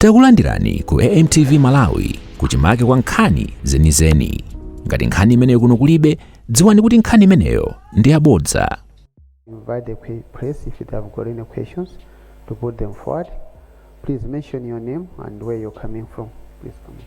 Takulandirani ku AMTV Malawi kuchimake kwa nkhani zenizeni. Ngati nkhani imeneyo kuno kulibe, dziwani kuti nkhani imeneyo ndi yabodza. invite the que- press if they have got any questions to put them forward. Please mention your name and where you're coming from. Please come. in.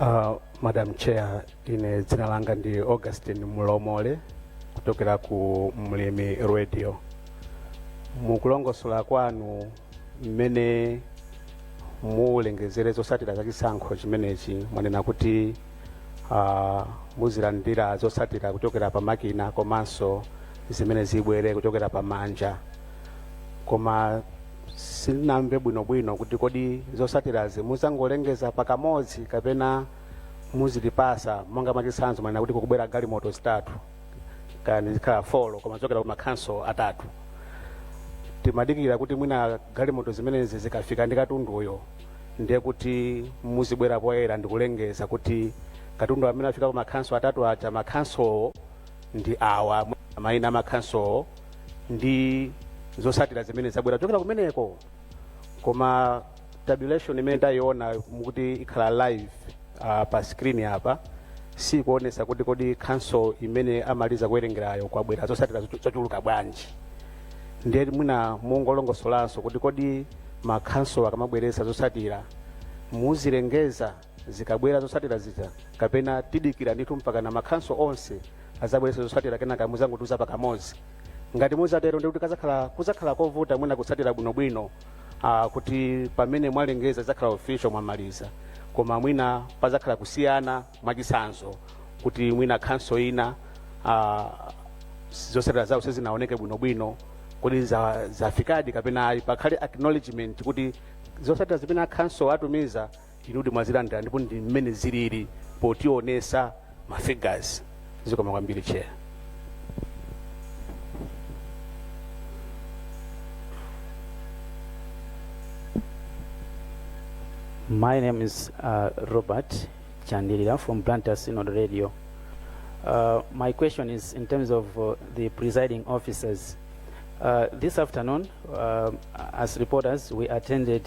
Uh, Madam Chair, ine dzina langa ndi Augustine Mulomole kuchokera ku Mlimi Radio. Mukulongosola kwanu mmene mulengezere zotsatira za chisankho chimenechi mwanena kuti uh, muzilandira zotsatira kuchokera pa makina komanso zimene zibwere kuchokera pa manja koma sinamve bwinobwino kuti kodi zotsatirazi muzangolengeza pakamodzi kapena muzitipasa monga mwachitsanzo mwanena kuti kukubwera galimoto zitatu kaya zikhala folo koma zochokera ku makhanso atatu timadikira kuti mwina galimoto zimenezi zikafika ndi katunduyo ndiye kuti muzibwera poyera ndikulengeza kuti katundu amene afika ku makhanso atatu aja makhansowo ndi awa maina amakhansowo ndi zosatira zimene zabwera kuchokera kumeneko koma tabulation imene ndayiona mukuti ikhala live uh, pa screen apa sikuonesa kuti kodi khanso imene amaliza kuwerengerayo kwabwera zosatira zochu- zochuluka bwanji ndiye mwina mungolongosolanso kuti kodi makhanso akamabweresa zosatira muzilengeza zikabwera zosatira zija kapena tidikira ndithu mpakana makhanso onse azabweresa zosatira kenaka muzangotiuza pakamodzi ngati muzatero ndikuti kazakhala kuzakhala kovuta mwina kutsatira bwinobwino ah, kuti pamene mwalengeza zizakhala official mwamaliza koma mwina pazakhala kusiyana mwachitsanzo kuti mwina khanso ina ah, zotsatira zawo sizinaoneke bwinobwino kuti za- zafikadi kapena ayi pakhale acknowledgement kuti zotsatira zimene akhanso atumiza Inudi mwazilandila ndipo ndi mmene zilili potionesa ma figures. Zikomo kwambiri chair. My name is uh, Robert Chandilila from Blantyre Synod Radio. Uh, my question is in terms of uh, the presiding officers. Uh, this afternoon, uh, as reporters, we attended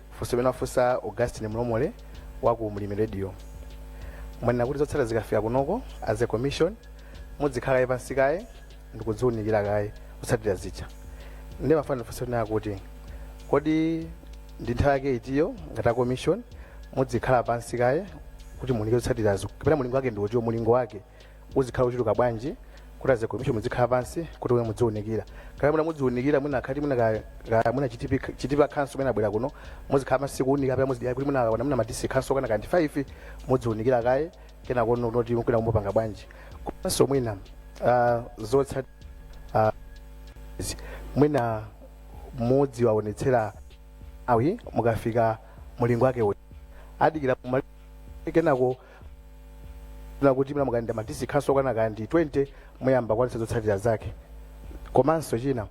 Funso limene wafunsa Augustine Mlomole wa ku Mlimi Radio. Mwanena kuti zotsatira zikafika kunoko as a commission mudzikhala kaye pansi kaye ndikudziwunikira kaye zotsatira zija. Ndiye ndimafuna ndifunse kunena kuti kodi ndi nthawi yake itiyo ngati a commission mudzikhala pansi kaye kuti muunike zotsatirazo kapena mulingo wake ndi uti mulingo wake uzikhala ochuluka bwanji kuti as a commission mudzikhala pansi kuti mudziunikira kaya mwina mudziunikira mwina akhati mwina ka- ka- mwina Chitipa Chitipa Council mwina abwera kuno muzikhala pansi kuunika kapena muzidikira kuti mwina akaona mwina madistrict council okwana kaya ndi 5 mudziunikira kaye kenakono kuti mukuna kumapanga bwanji komanso mwina ah, zotsatira ah, izi. mwina mudziwaonetsera aMalawi mukafika mulingo wake uti adikira kumali- kenako na kuti mwina mukalandira madistrict council okwana kaya ndi 20 muyamba kuonetsa zotsatira zake komanso china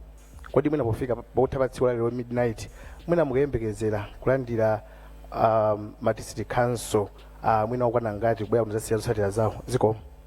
kodi mwina pofika pa- pakutha pa tsiku lalero midnight mwina mukayembekezera kulandira um, madistrict council uh, mwina okwana angati kubwera kudzasiya zotsatira zawo zikomo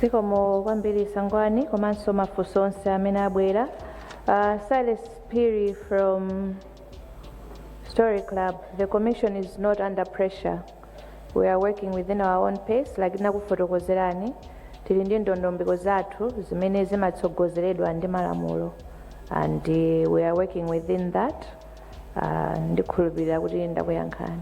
zikomo kwambiri sangwani komanso mafunso onse amene abwera uh, Silas Phiri from story club the commission is not under pressure We are working within our own pace like ndinakufotokozerani tili ndi ndondomeko zathu zimene zimatsogozeredwa ndi malamulo and uh, we are working within that uh, ndikhulupirira kuti ndakuyankhani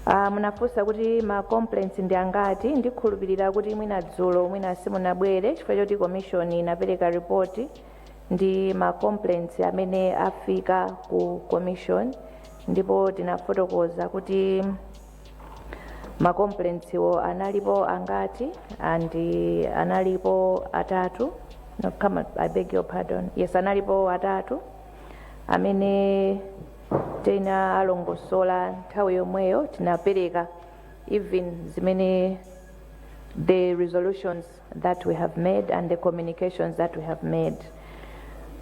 uh, munafunsa kuti ma complaints ndi angati ndikhulupirira kuti mwina dzulo mwina simunabwere chifukwa choti commission inapereka report ya ma complaints amene afika ku commission ndipo tinafotokoza kuti ma complaints wo analipo angati and analipo atatu no, come on, I beg your pardon yes analipo atatu amene tinawalongosola nthawi yomweyo tinapereka even zimene the resolutions that we have made and the communications that we have made.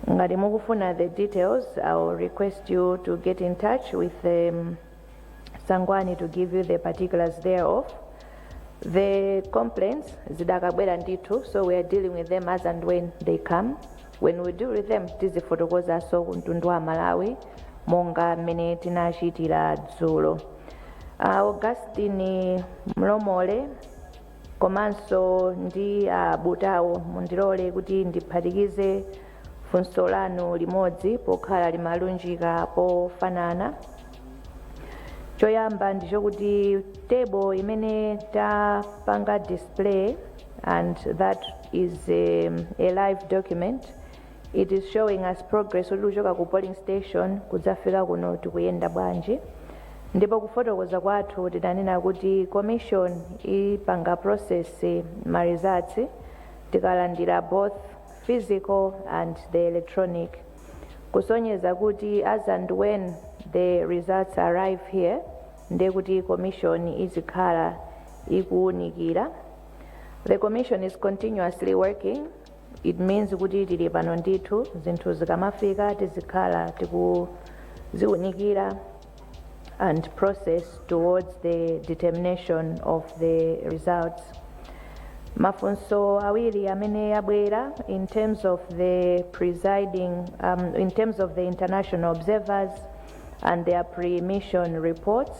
Ngati mukufuna the details, I will request you to get in touch with um, Sangwani to give you the particulars thereof. The complaints zidakabwera ndithu, so we are dealing with them as and when they come. When we deal with them, tizifotokozaso kuntundu wa Malawi monga mmene tinachitira dzulo. Uh, Augustine Mlomole komanso ndi a Butao, mundilole kuti ndiphatikize funso lanu limodzi pokhala limalunjika pofanana. Choyamba ndichokuti table imene tapanga display and that is um, a live document It is showing us progress kuti kuchoka ku polling station kudzafika kuno tikuyenda bwanji ndipo kufotokoza kwathu tinanena kuti commission ipanga process ma results tikalandira both physical and the electronic kusonyeza kuti as and when the results arrive here ndiye kuti commission izikhala ikuwunikira the commission is continuously working It means kuti tili pano ndithu zinthu zikamafika tizikhala tikuziunikira and process towards the determination of the results. Mafunso awiri amene abwera in terms of the presiding um, in terms of the international observers and their pre-mission reports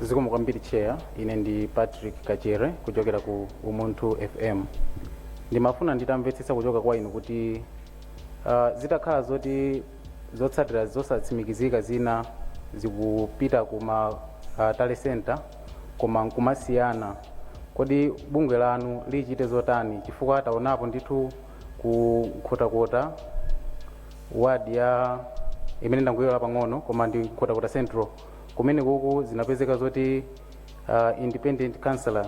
zikomo kwambiri chair ine ndi patrick kachere kuchokera ku umunthu fm ndimafuna nditamvetsetsa kuchoka kwa inu kuti uh, zitakhala zoti zotsatira zosatsimikizika zina zikupita ku ma uh, tally center koma nkumasiyana kodi bungwe lanu lichite zotani chifukwa taonapo ndithu ku nkhotakota ward ya imene ndangoiwala pang'ono koma ndi nkhotakota central kumene kuku zinapezeka zoti uh, independent councillor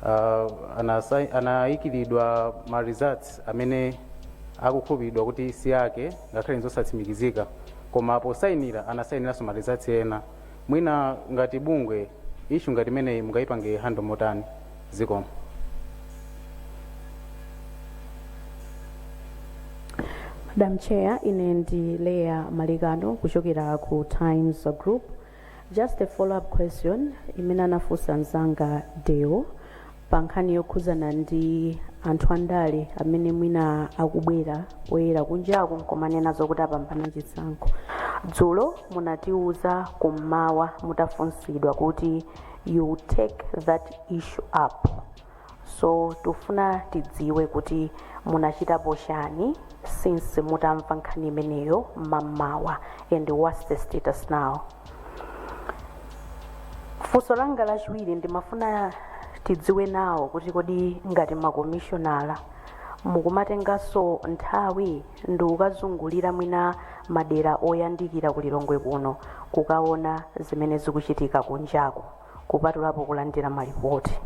uh, anasa- anayikiridwa ma results amene akukhulupiridwa kuti si ake ngakhale nzosatsimikizika koma posayinira anasayiniranso ma results ena mwina ngati bungwe issue ngati imeneyi mungayipange handle motani zikomo Madam Chair, ine ndi Leah Malekano kuchokera ku Times Group. Just a follow-up question imene anafunsa mzanga Deo pa nkhani yokhudzana ndi anthu andale amene mwina akubwera poyera kunjaku nkumanena zokuti apambana chisankho dzulo munatiuza kummawa mutafunsidwa kuti you will take that issue up so tufuna tidziwe kuti munachitapo chani since mutamva nkhani imeneyo mmamawa and what's the status now funso langa lachiwiri ndimafuna tidziwe nawo kuti kodi ngati makomishonala mukumatenganso nthawi ndi kukazungulira mwina madera oyandikira ku lilongwe kuno kukaona zimene zikuchitika kunjaku kupatulapo kulandira malipoti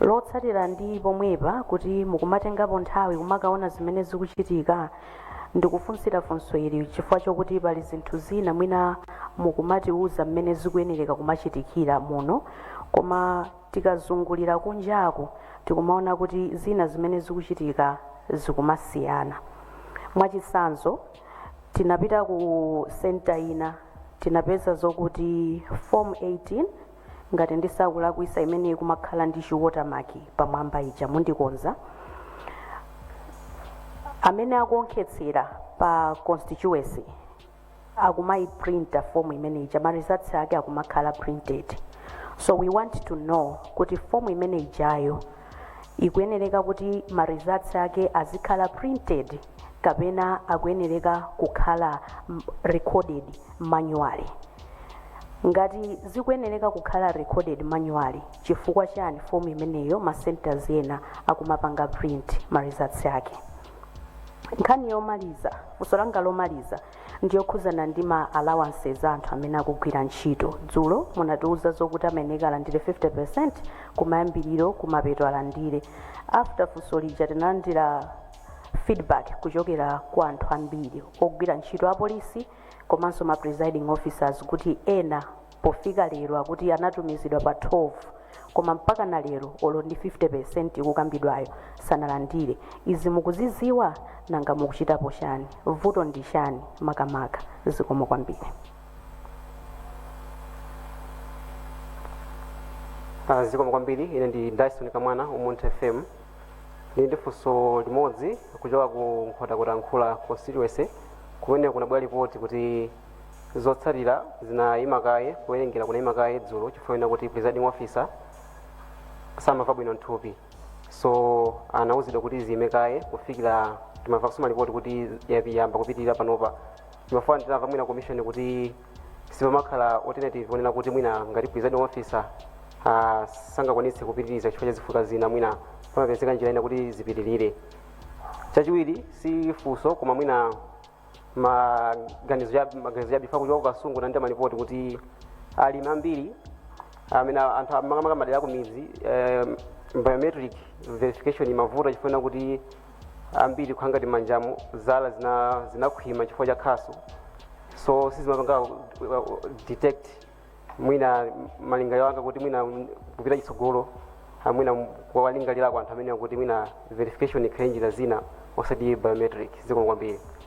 lotsatira ndi pomwepa kuti mukumatengapo nthawi kumakaona zimene zikuchitika ndikufunsira funso ili chifukwa chokuti pali zinthu zina mwina mukumatiuza mmene zikuyenereka kumachitikira muno koma tikazungulira kunjaku tikumaona kuti zina zimene zikuchitika zikumasiyana mwachitsanzo tinapita ku center ina tinapeza zokuti form 18 ngati ndisakulakwisa imene ikumakhala ndi chi watermark pamwamba ija mundikonza amene akuonkhetsera pa constituency akumayiprinta form imene ija ma results ake akumakhala printed so we want to know kuti form imene ijayo ikuyenereka kuti ma results ake azikhala printed kapena akuyenereka kukhala recorded manually ngati zikuyenereka kukhala recorded manually chifukwa chani form imeneyo ma centers ena akumapanga print ma results ake nkhani yomaliza funso langa lomaliza ndiyokhuzana ndi ma allowances anthu amene akugwira ntchito dzulo munatiuza zokuti amayenera alandire 50% kumayambiriro kumapeto alandire after funso lija tinalandira feedback kuchokera kwa anthu ambiri ogwira ntchito apolisi komanso ma presiding officers kuti ena pofika lero akuti anatumizidwa pa 12 koma mpaka na lero olo ndi 50% ikukambidwayo sanalandire izi mukuziziwa nanga mukuchitapo chani vuto ndi chani makamaka zikomo kwambiri zikomo kwambiri ine ndi dyson kamwana umunthu fm Ndili ndi funso limodzi kuchoka ku Nkhotakota-Mkhula constituency kumene kunabwera lipoti kuti zotsatira zinayima kaye, kuwerengera kunayima kaye dzulo chifukwa choti presiding officer samamva bwino nthupi. So anawuzidwa kuti ziyime kaye kufikira timamva kaso malipoti kuti yapi- yayamba kupitirira panopa. Ndimafuna ndimve mwina commission kuti sipamakhala alternative onena kuti mwina ngati presiding officer uh, sangakwanitse kupitiriza chifukwa cha zifukwa zina mwina pamapezeka njira ina kuti zipitirire chachiwiri si funso koma mwina maganizo cha- maganizo chabe kuchoka kukasungu ndinamva malipoti kuti alimi ambiri amene ali makamaka madera akumidzi eh, biometric verification imavuta chifukwa kuti ambiri kukhala ngati manjamo zala zina- zinakhwima chifukwa cha khasu so sizimapanga uh, uh, detect mwina malingaliro anga kuti mwina mm, kupita chitsogolo ah, mwina kuwalingalirako anthu amenewa kuti mwina verification ikhale njira zina osati biometric zikomo kwambiri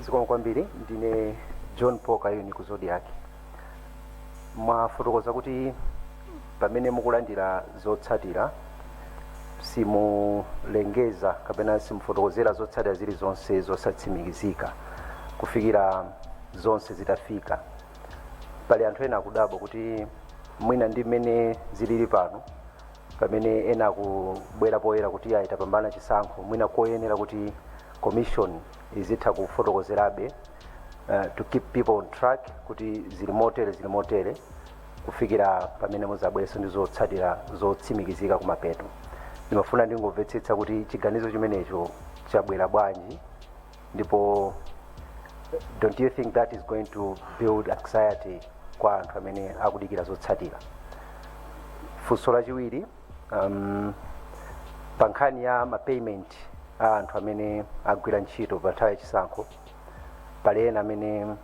zikomo kwambiri ndine john paul kayuni ku zodiak mwafotokoza kuti pamene mukulandira zotsatira simulengeza kapena simufotokozera zotsatira zilizonse zosatsimikizika kufikira zonse zitafika pali anthu ena akudabwa kuti mwina ndi mmene zilili pano pamene ena akubwera poyera kuti ayi tapambana chisankho mwina koyenera kuti commission izitha kufotokozerabe uh, to keep people on track kuti zili motere zili motere kufikira pamene mudzabwerenso ndi zotsatira zotsimikizika kumapeto ndimafuna ndingomvetsetsa kuti chiganizo chimenecho chabwera bwanji ndipo don't you think that is going to build anxiety kwa anthu amene akudikira zotsatira funso lachiwiri um, pa nkhani ya mapayment a anthu amene agwira ntchito pa nthawi yachisankho pali ena amene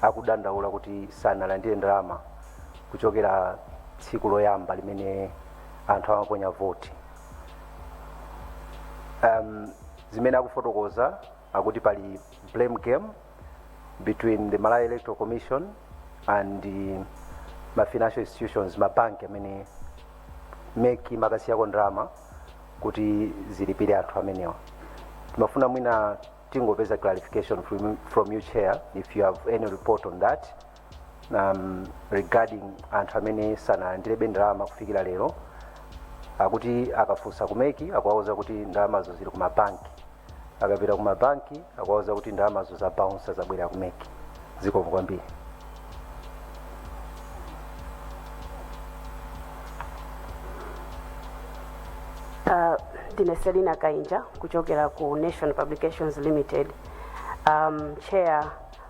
akudandaula kuti sanalandire ndalama kuchokera tsiku loyamba limene anthu amaponya voti um, zimene akufotokoza akuti pali blame game between the malawi electoral commission and uh, ma financial institutions mabanki amene MEC imakasiyako ndalama kuti zilipire anthu amenewa timafuna mwina tingopeza clarification from, from you chair if you have any report on that um, regarding anthu amene sanalandirebe ndalama kufikira lero akuti akafunsa ku MEC akuwauza kuti ndalamazo zili ku mabanki akapita ku mabanki akuwauza kuti ndalamazo zabaunsa zabwerera ku MEC zikomo kwambiri Uh, ndine Selina Kainja kuchokera ku nation publications limited um, chair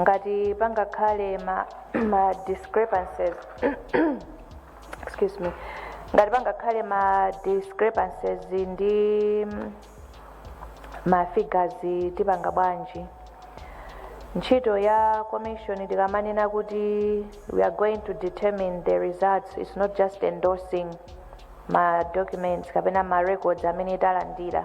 ngati pangakhale ma, ma discrepancies excuse me ngati pangakhale ma discrepancies ndi mm, ma figures tipanga bwanji ntchito ya commission tikamanena kuti we are going to determine the results it's not just endorsing ma documents kapena ma records amene talandira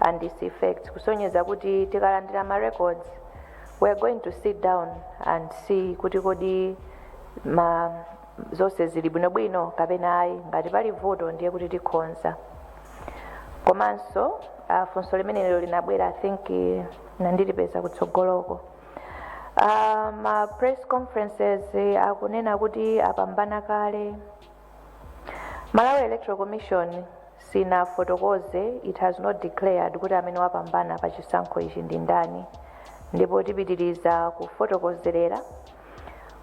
and its effects kusonyeza kuti tikalandira ma records we are going to sit down and see kuti kodi ma zonse zili bwinobwino kapena ayi ngati pali vuto ndiye kuti tikhonza komanso uh, funso limenelo linabwera i think eh, ndilipeza kutsogoloko uh, ma press conferences eh, akunena kuti apambana kale Malawi Electoral Commission sinafotokoze, it has not declared, kuti amene wapambana pa chisankho ichi ndi ndani ndipo tipitiriza kufotokozerera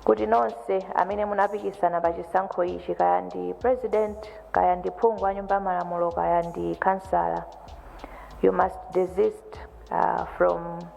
kuti nonse amene munapikisana pa chisankho ichi kaya ndi president kaya ndi phungu wa nyumba ya malamulo kaya ndi kansala you must desist uh, from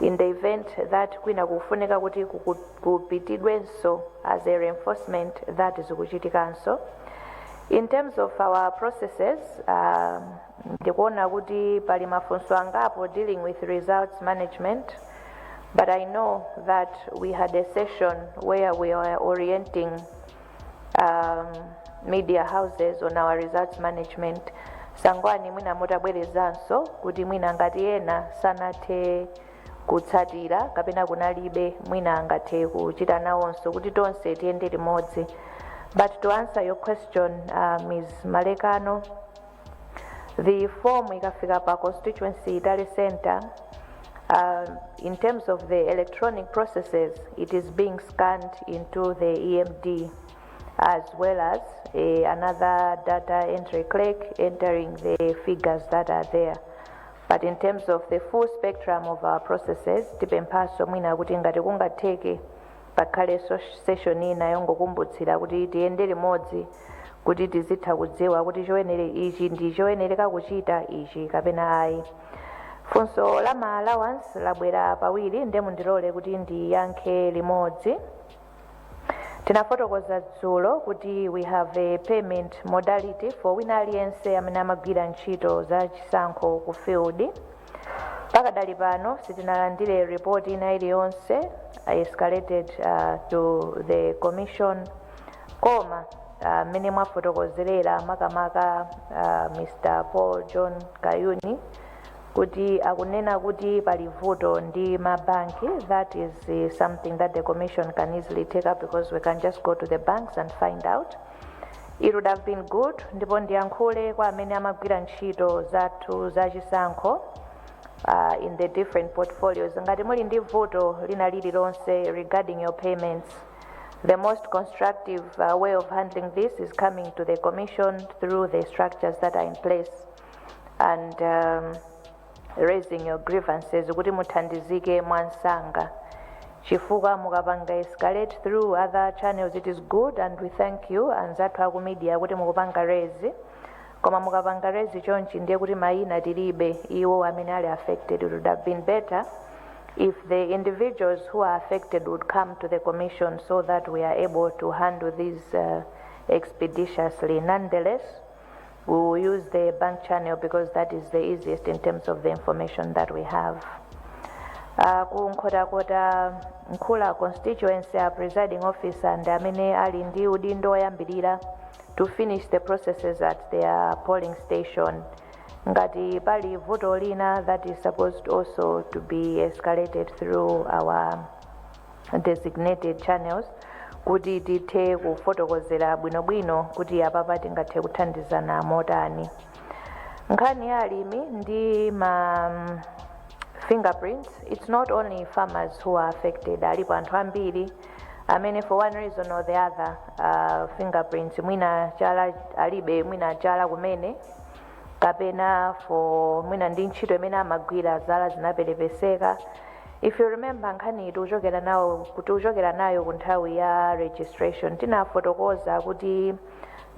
in the event that kwina kukufunika kuti kuku- kupitidwenso as a reinforcement that zikuchitikanso in terms of our processes um, ndikuona kuti pali mafunso angapo dealing with results management but i know that we had a session where we were orienting um, media houses on our results management sangwani mwina mutabwerezanso kuti mwina ngati ena sanathe kutsatira kapena kunalibe mwina angathe kuchita nawonso kuti tonse tiyende limodzi but to answer your question uh, ms malekano the form ikafika pa constituency tale center uh, in terms of the electronic processes it is being scanned into the emd as well as a, another data entry clerk entering the figures that are there but in terms of the full spectrum of our processes tipemphaso mwina kuti ngati kungatheke pakhale so- session ina yongokumbutsira kuti tiyende limodzi kuti tizitha kudziwa kuti choyenera ichi ndi choyenereka kuchita ichi kapena ayi funso la ma allowance labwera pawiri nde mundilole kuti ndiyankhe limodzi tinafotokoza dzulo kuti we have a payment modality for wina aliyense amene amagwira ntchito za chisankho ku field Pakadali pano sitinalandire report ina iliyonse uh, escalated uh, to the commission koma uh, mmene mwafotokozerera makamaka uh, Mr. Paul John Kayuni kuti akunena kuti pali vuto ndi mabanki that is uh, something that the commission can easily take up because we can just go to the banks and find out It would have been good ndipo ndiyankhule kwa amene amagwira ntchito zathu za chisankho uh, in the different portfolios ngati muli ndi vuto lina lililonse regarding your payments the most constructive uh, way of handling this is coming to the commission through the structures that are in place and um, raising your grievances kuti muthandizike mwamsanga chifukwa mukapanga escalate through other channels it is good and we thank you anzathu aku media kuti mukupanga raise koma mukapanga raise chonchi ndiye kuti mayina tilibe iwo amene ali affected it would have been better if the individuals who are affected would come to the commission so that we are able to handle these uh, expeditiously nonetheless We will use the bank channel because that is the easiest in terms of the information that we have. Uh, ku Nkhotakota Nkhula constituency a presiding officer ndi amene ali ndi udindo woyambirira to finish the processes at their polling station. Ngati pali vuto lina that is supposed also to be escalated through our designated channels kuti tithe kufotokozera bwinobwino kuti apapa tingathe kuthandizana motani nkhani ya alimi ndi ma mm, fingerprints it's not only farmers who are affected alipo anthu ambiri amene for one reason or the other uh, fingerprints mwina chala alibe mwina chala kumene kapena for mwina ndi ntchito imene amagwira zala zinaperepeseka if you remember nkhani iyi tikuchokera nawo tikuchokera nayo ku nthawi ya registration tinafotokoza kuti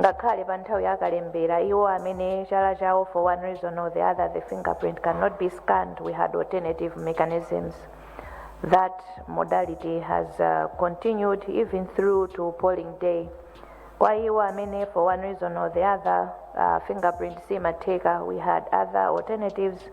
ngakhale pa nthawi ya kalembera iwo amene chala chawo for one reason or the other the fingerprint cannot be scanned we had alternative mechanisms that modality has uh, continued even through to polling day kwa iwo amene for one reason or the other uh, fingerprint simatheka we had other alternatives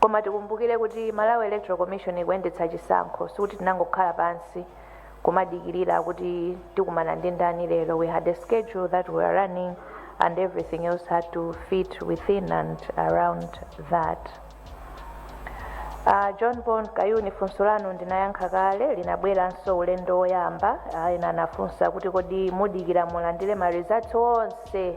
Koma tikumbukire kuti Malawi Electoral Commission ikuyendetsa chisankho sikuti tinangokhala pansi kumadikirira kuti tikumana ndi ndani lero we had a schedule that we were running and everything else had to fit within and around that. Uh, John Bon Kayuni funso lanu ndinayankha kale linabweranso ulendo woyamba uh, ena anafunsa kuti kodi mudikira mulandire ma results onse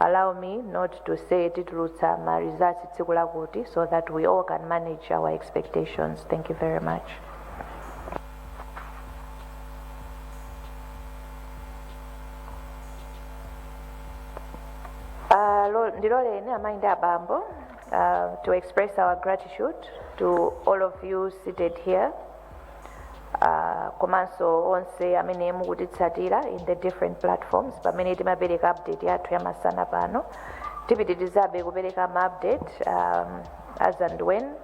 allow me not to say titulutsa ma results tsiku lakuti so that we all can manage our expectations thank you very much Uh, lo- ndiloleni amayi ndi abambo uh, to express our gratitude to all of you seated here uh, komanso onse amene mukutitsatira in the different platforms pamene timapereka update yathu yamasana pano tipitirizabe kupereka ma update um, as and when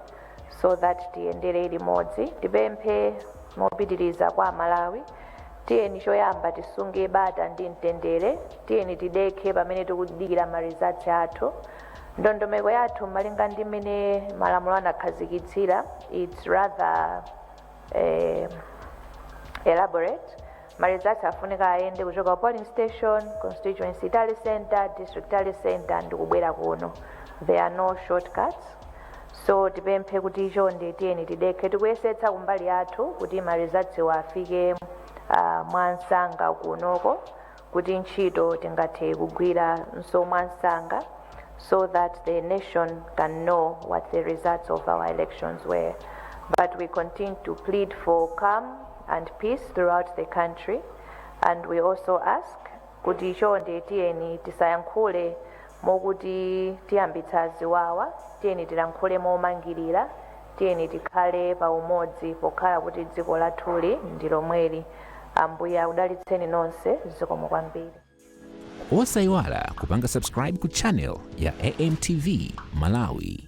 so that tiyendere limodzi tipemphe mopitiriza kwa amalawi tiyeni choyamba tisunge bata ndi mtendere tiyeni tidekhe pamene tikudikira ma results athu ndondomeko yathu malinga ndi mmene malamulo anakhazikitsira it's rather eh, elaborate ma results afunika ayende kuchoka ku polling station constituency tally center district tally center ndi kubwera kuno there are no shortcuts so tipemphe kuti chonde tiyeni tidekhe tikuyesetsa kumbali yathu kuti ma results afike uh, mwamsanga kunoko kuti ntchito tingathe kugwiranso mwamsanga so that the nation can know what the results of our elections were. But we continue to plead for calm and peace throughout the country and we also ask kuti chonde tiyeni tisayankhule mokuti tiyambitsa ziwawa tiyeni tilankhule momangirira Tiyeni tikhale pa umodzi pokhala kuti dziko lathuli ndi lomweli. Ambuye akudalitseni nonse. Zikomo kwambiri. Osaiwala kupanga subscribe ku channel ya AMTV Malawi.